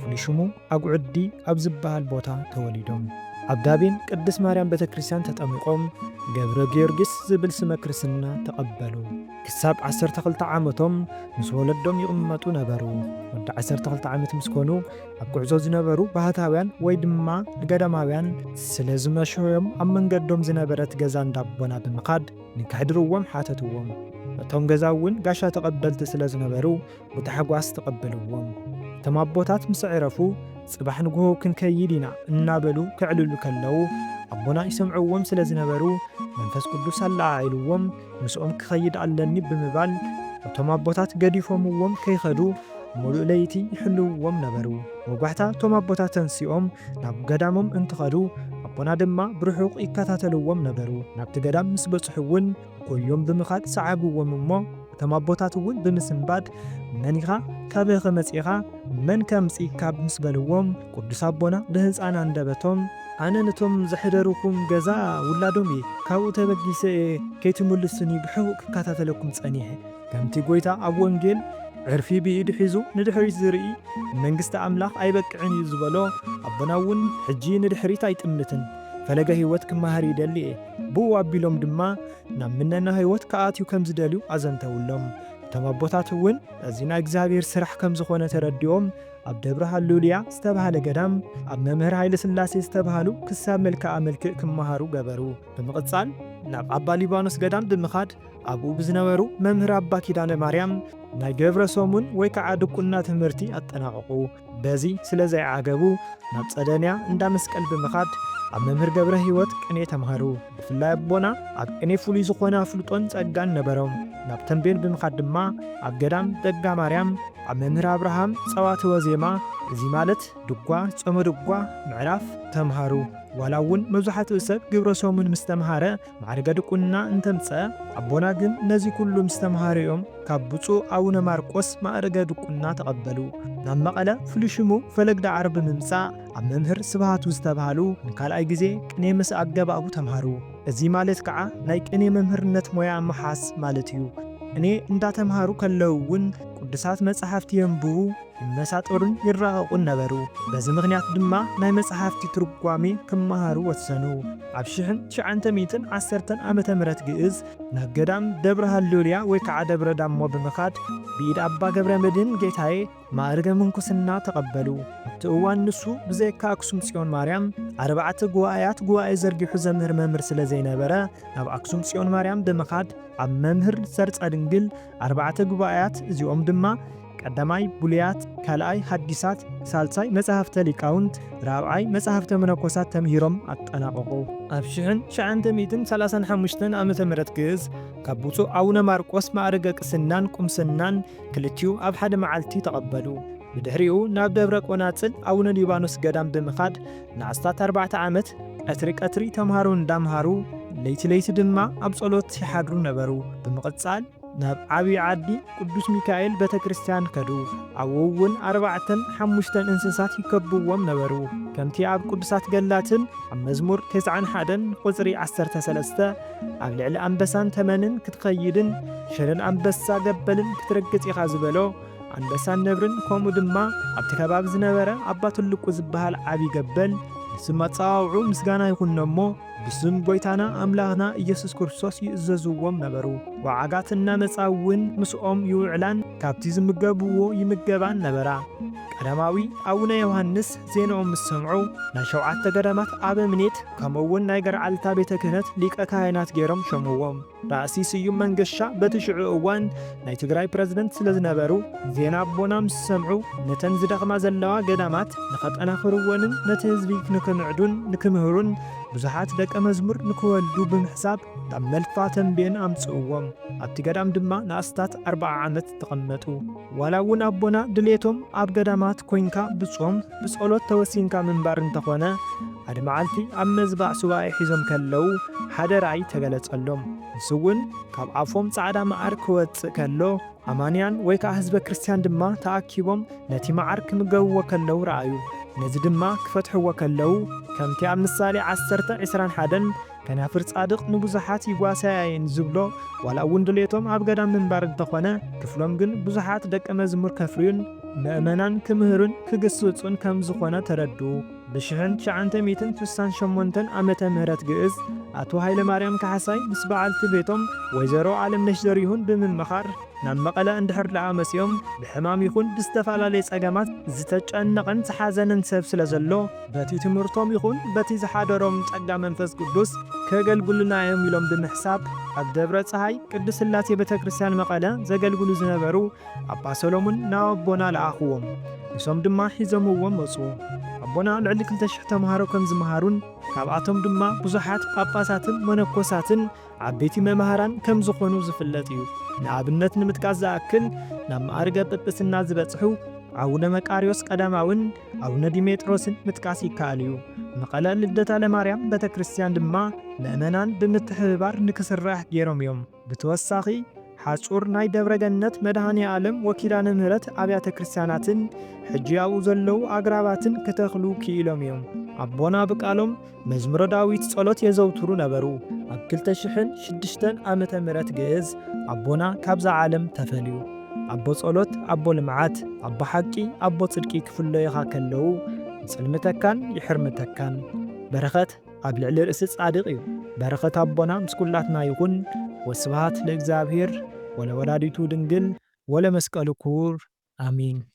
ፍሉይ ሽሙ ኣጉዕዲ ኣብ ዝበሃል ቦታ ተወሊዶም ኣብ ዳቤን ቅድስ ማርያም ቤተ ክርስቲያን ተጠሚቖም ገብረ ጊዮርጊስ ዝብል ስመ ክርስትና ተቐበሉ። ክሳብ 12 ዓመቶም ምስ ወለዶም ይቕመጡ ነበሩ። ወዲ 12 ዓመት ምስ ኮኑ ኣብ ጉዕዞ ዝነበሩ ባህታውያን ወይ ድማ ንገዳማውያን ስለ ዝመሸዮም ኣብ መንገዶም ዝነበረት ገዛ እንዳቦና ብምኻድ ንከሕድርዎም ሓተትዎም። እቶም ገዛ እውን ጋሻ ተቐበልቲ ስለ ዝነበሩ ብታሕጓስ ተቐበልዎም። እቶም ኣቦታት ምስ ኣዕረፉ፣ ጽባሕ ንግሆ ክንከይድ ኢና እናበሉ ከዕልሉ ከለዉ፣ ኣቦና ይሰምዕዎም ስለ ዝነበሩ፣ መንፈስ ቅዱስ ኣለዓዒልዎም ምስኦም ክኸይድ ኣለኒ ብምባል፣ እቶም ኣቦታት ገዲፎምዎም ከይኸዱ ምሉእ ለይቲ ይሕልውዎም ነበሩ። ወጋሕታ እቶም ኣቦታት ተንሲኦም ናብ ገዳሞም እንትኸዱ፣ ኣቦና ድማ ብርሑቕ ይከታተልዎም ነበሩ። ናብቲ ገዳም ምስ በጽሑ'ውን፣ ጎዮም ብምኻድ ሰዓብዎም እሞ እቶም ኣቦታት እውን ብምስንባድ መን ኢኻ ካበይኸ መጺእኻ መን ከምጺእካ ምስ በልዎም ቅዱስ ኣቦና ብህጻን ኣንደበቶም ኣነ ነቶም ዘሕደሩኩም ገዛ ውላዶም እየ ካብኡ ተበጊሰ እየ ከይትምልሱኒ ብሕቡእ ክከታተለኩም ጸኒሐ ከምቲ ጎይታ ኣብ ወንጌል ዕርፊ ብኢዱ ሒዙ ንድሕሪት ዝርኢ ንመንግስቲ ኣምላኽ ኣይበቅዕን እዩ ዝበሎ ኣቦና እውን ሕጂ ንድሕሪት ኣይጥምትን ፈለገ ህይወት ክመሃር ይደሊ እየ ብኡ ኣቢሎም ድማ ናብ ምነና ህይወት ክኣትዩ ከም ዝደልዩ ኣዘንተውሎም። እቶም ኣቦታት እውን እዚ ናይ እግዚኣብሔር ስራሕ ከም ዝኾነ ተረዲኦም ኣብ ደብረ ሃሉሉያ ዝተባህለ ገዳም ኣብ መምህር ሃይለስላሴ ዝተባህሉ ክሳብ መልክኣ መልክእ ክመሃሩ ገበሩ። ብምቕጻል ናብ ኣባ ሊባኖስ ገዳም ብምኻድ ኣብኡ ብዝነበሩ መምህር ኣባ ኪዳነ ማርያም ናይ ገብረ ሶሙን ወይ ከዓ ድቁና ትምህርቲ ኣጠናቐቑ። በዚ ስለ ዘይዓገቡ ናብ ጸደንያ እንዳ መስቀል ብምኻድ ኣብ መምህር ገብረ ሕይወት ቅኔ ተምሃሩ። ብፍላይ ኣቦና ኣብ ቅኔ ፍሉይ ዝኾነ ኣፍልጦን ጸጋን ነበሮም። ናብ ተምቤን ብምኻድ ድማ ኣብ ገዳም ደጋ ማርያም ኣብ መምህር ኣብርሃም ጸዋትወ ዜማ እዚ ማለት ድጓ፣ ጾመ ድጓ፣ ምዕራፍ፣ ተምሃሩ። ዋላ እውን መብዛሕትኡ ሰብ ግብረ ሰሙን ምስ ተምሃረ ማዕርገ ድቁና እንተምጽኣ ኣቦና ግን ነዚ ኩሉ ምስ ተምሃርኦም ካብ ብጹእ ኣቡነ ማርቆስ ማእርገ ድቁና ተቐበሉ። ናብ መቐለ ፍሉይ ሽሙ ፈለግ ዳዕሮ ብምምጻእ ኣብ መምህር ስብሃቱ ዝተብሃሉ ንካልኣይ ግዜ ቅኔ ምስ ኣገባቡ ተምሃሩ። እዚ ማለት ከኣ ናይ ቅኔ መምህርነት ሞያ ምሓዝ ማለት እዩ። ቅኔ እንዳተምሃሩ ከለዉ እውን ቅዱሳት መጻሕፍቲ የንብቡ፣ ይመሳጠሩን ይራቐቑን ነበሩ። በዚ ምኽንያት ድማ ናይ መጽሓፍቲ ትርጓሜ ክመሃሩ ወሰኑ። ኣብ ሽሕን ትሽዓንተ ሚእትን ዓሰርተን ዓመተ ምሕረት ግእዝ ናብ ገዳም ደብረ ሃሌሉያ ወይ ከዓ ደብረ ዳሞ ብምኻድ ብኢድ ኣባ ገብረ መድኅን ጌታዬ ማእርገ ምንኩስና ተቐበሉ። ኣብቲ እዋን ንሱ ብዘይካ ኣክሱም ጽዮን ማርያም ኣርባዕተ ጉባኤያት ጉባኤ ዘርጊሑ ዘምህር መምህር ስለ ዘይነበረ ናብ ኣክሱም ጽዮን ማርያም ብምኻድ ኣብ መምህር ሰርጸ ድንግል ኣርባዕተ ጉባኤያት እዚኦም ድማ ቀዳማይ ብሉያት፣ ካልኣይ ሃዲሳት፣ ሳልሳይ መጻሕፍተ ሊቃውንት፣ ራብዓይ መጻሕፍተ መነኮሳት ተምሂሮም ኣጠናቐቑ። ኣብ ሽሕን ትሽዓንተ ሚእትን ሰላሳን ሓሙሽተን ዓመተ ምህረት ግእዝ ካብ ብፁዕ ኣቡነ ማርቆስ ማዕርገ ቅስናን ቁምስናን ክልቲኡ ኣብ ሓደ መዓልቲ ተቐበሉ። ብድሕሪኡ ናብ ደብረ ቆናጽል ኣቡነ ሊባኖስ ገዳም ብምኻድ ንኣስታት ኣርባዕተ ዓመት ቀትሪ ቀትሪ ተምሃሮ እንዳምሃሩ ለይቲ ለይቲ ድማ ኣብ ጸሎት ይሓድሩ ነበሩ። ብምቕጻል። ናብ ዓብዪ ዓዲ ቅዱስ ሚካኤል ቤተ ክርስቲያን ከዱ። ኣብኡውን ኣርባዕተን ሓሙሽተን እንስሳት ይከብዎም ነበሩ። ከምቲ ኣብ ቅዱሳት ገድላትን ኣብ መዝሙር ተስዓን ሓደን ቁጽሪ ዓሰርተ ሰለስተ ኣብ ልዕሊ ኣንበሳን ተመንን ክትኸይድን ሽረን ኣንበሳ ገበልን ክትረግጽ ኢኻ ዝበሎ ኣንበሳን ነብርን ከምኡ ድማ ኣብቲ ከባቢ ዝነበረ ኣባ ትልቁ ዝበሃል ዓብዪ ገበል ንስም ኣጸዋውዑ ምስጋና ይኹኖ እሞ ብስም ጐይታና ኣምላኽና ኢየሱስ ክርስቶስ ይእዘዝዎም ነበሩ። ወዓጋት እናመጻ እውን ምስኦም ይውዕላን ካብቲ ዝምገብዎ ይምገባን ነበራ። ቀዳማዊ ኣቡነ ዮሓንስ ዜንኦም ምስ ሰምዑ ናይ ሸውዓተ ገዳማት ኣበምኔት ከምኡውን ናይ ገርዓልታ ቤተ ክህነት ሊቀ ካህናት ገይሮም ሾምዎም። ራእሲ ስዩም መንገሻ በቲ ሽዑ እዋን ናይ ትግራይ ፕረዚደንት ስለ ዝነበሩ ዜና ኣቦና ምስ ሰምዑ ነተን ዝደኽማ ዘለዋ ገዳማት ንኸጠናኽርወንን ነቲ ህዝቢ ንክምዕዱን ንክምህሩን ብዙሓት ደቀ መዝሙር ንክወልዱ ብምሕሳብ ናብ መልፋ ተምቤን ኣምጽእዎም። ኣብቲ ገዳም ድማ ንኣስታት ኣርብዓ ዓመት ተቐመጡ። ዋላ እውን ኣቦና ድሌቶም ኣብ ገዳማት ኮይንካ ብጾም ብጸሎት ተወሲንካ ምንባር እንተኾነ ኣድ መዓልቲ ኣብ መዝባዕ ሱባኤ ሒዞም ከለዉ ሓደ ራእይ ተገለጸሎም ንሱውን ካብ ኣፎም ጻዕዳ መዓር ክወጽእ ከሎ ኣማንያን ወይ ከኣ ህዝበ ክርስትያን ድማ ተኣኪቦም ነቲ መዓር ክምገብዎ ከለዉ ረኣዩ ነዚ ድማ ክፈትሕዎ ከለዉ ከምቲ ኣብ ምሳሌ ዓሰርተ ዕስራን ሓደን ከናፍር ጻድቕ ንብዙሓት ይጓሳያ እየን ዝብሎ ዋላ እውን ድሌቶም ኣብ ገዳም ምንባር እንተኾነ ክፍሎም ግን ብዙሓት ደቀ መዝሙር ከፍርዩን መእመናን ክምህሩን ክግስጹን ከምዝኾነ ተረድኡ። ብሽሕን ትሽዓንተ ሚእትን ስሳን ሸሞንተን ዓመተ ምህረት ግእዝ ኣቶ ሃይለማርያም ካሕሳይ ምስ በዓልቲ ቤቶም ወይዘሮ ኣለምነሽ ዘሪሁን ብምምኻር ናብ መቐለ እንድሕር ደኣ መጺኦም ብሕማም ይኹን ብዝተፈላለየ ጸገማት ዝተጨነቐን ዝሓዘነን ሰብ ስለዘሎ በቲ ትምህርቶም ይኹን በቲ ዝሓደሮም ጸጋ መንፈስ ቅዱስ ከገልግሉና እዮም ኢሎም ብምሕሳብ ኣብ ደብረ ፀሃይ ቅድስት ሥላሴ ቤተ ክርስቲያን መቐለ ዘገልግሉ ዝነበሩ ኣባ ሰሎሙን ናብ ኣቦና ለኣኽዎም። ንሶም ድማ ሒዞምዎም መጹ። ኣቦና ልዕሊ ክልተ ሽሕ ተምሃሮ ከም ዝመሃሩን ካብኣቶም ድማ ብዙሓት ጳጳሳትን መነኮሳትን ዓበይቲ መማህራን ከም ዝኾኑ ዝፍለጥ እዩ። ንኣብነት ንምጥቃስ ዝኣክል ናብ መኣርገ ጵጵስና ዝበጽሑ ኣቡነ መቃርዮስ ቀዳማውን ኣቡነ ዲሜጥሮስን ምጥቃስ ይከኣል እዩ። መቐለ ልደታ ለማርያም ቤተ ክርስቲያን ድማ ምእመናን ብምትሕብባር ንክስራሕ ገይሮም እዮም። ብተወሳኺ ሓጹር ናይ ደብረ ገነት መድኃኔ ዓለም ወኪዳነ ምህረት ኣብያተ ክርስቲያናትን ሕጂ ኣብኡ ዘለዉ ኣግራባትን ክተኽሉ ክኢሎም እዮም። ኣቦና ብቃሎም መዝሙረ ዳዊት ጸሎት የዘውትሩ ነበሩ። ኣብ ክልተ ሽሕን ሽዱሽተን ዓመተ ምሕረት ግእዝ ኣቦና ካብዛ ዓለም ተፈልዩ። ኣቦ ጸሎት፣ ኣቦ ልምዓት፣ ኣቦ ሓቂ፣ ኣቦ ጽድቂ ክፍለዩኻ ከለዉ ይጽልምተካን ይሕርምተካን። በረኸት ኣብ ልዕሊ ርእሲ ጻድቕ እዩ። በረኸት ኣቦና ምስ ኩላትና ይኹን። ወስብሃት ለእግዚኣብሔር ወለወላዲቱ ድንግል ወለመስቀሉ ክቡር ኣሜን።